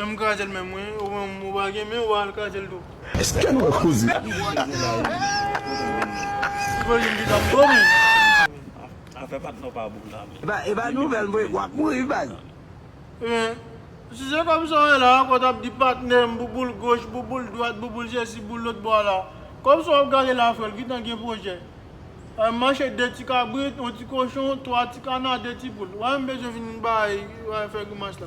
Menm kajel menm wi ou menm ou pa gen men ou pa al kajel tou. Eske nou wè koze a. Imajine ki jan m domi. Epa nouvel vre wap mouri baz. Ebyen si se kòm sa w wè la a kòw tap di patnè m bouboul goch bouboul dwat bouboul sesi bouboul lòt bò a la kòm sa wap gade la a frè l gentan gen pwojè m mache 2 ti kabrit yon ti kochon 3 ti kana 2 ti poul wè m bezwen vin bay fè grimas la.